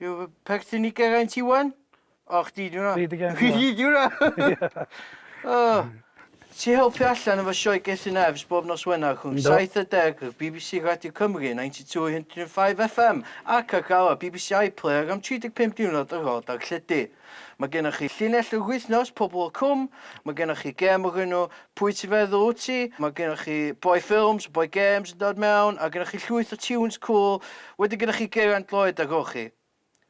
Yw fy perthyn i Geraint Iwan? O, chdi di hwnna. Chdi di Geraint Iwan. Chdi di hwnna. O. Ti helpu allan efo sioe Gethin Evs bob nos Wener rhwng 7.10 ar bbc Radio Cymru 92 105 FM ac ar gael ar bbc iPlayer am 35 diwrnod ar ôl darlledu. Mae gennych chi llinell y wythnos, Pobl y Cwm, mae gennych chi gêm o'r enw Pwy Ti'n Feddwl Wyt Ti, mae gennych chi Boi Ffilms, Boi Gêms yn dod mewn, a gennych chi llwyth o tiwns cŵl, wedyn gennych chi Geraint Lloyd a Rhorchi.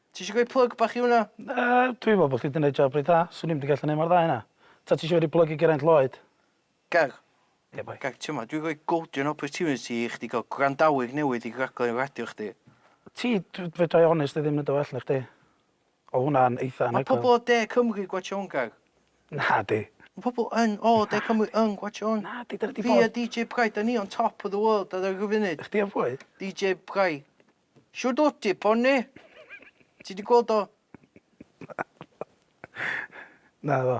Ti eisiau rhoi plug bach i hwnna? Na, dwi'n meddwl bod chdi 'di neud job reit dda, 'swn i'm 'di gallu neud mor dda a hynna. Ta ti eisiau fi roi plug i Geraint Lloyd? Gad. Ie, boi. Gad, ti'mod, dwi'n rhoi golden opportunity i chdi gael gwrandawyr newydd i raglen radio chdi. Ti, dw- fedra i onestly ddim neud o well na chdi. O hwnna'n eitha anhygoel. Mae pobl o De Cymru gwatsiôn Gaer. Nadi. Mae pobl yn o De Cymru yn gwatsiôn. Nadi, dyna di bod. Fi a DJ Pry, da ni on top of the world ar yr funud. Chdi a phwy? DJ Pry. Shwd wt ti, Pony? Ti di gweld o? Na. Naddo.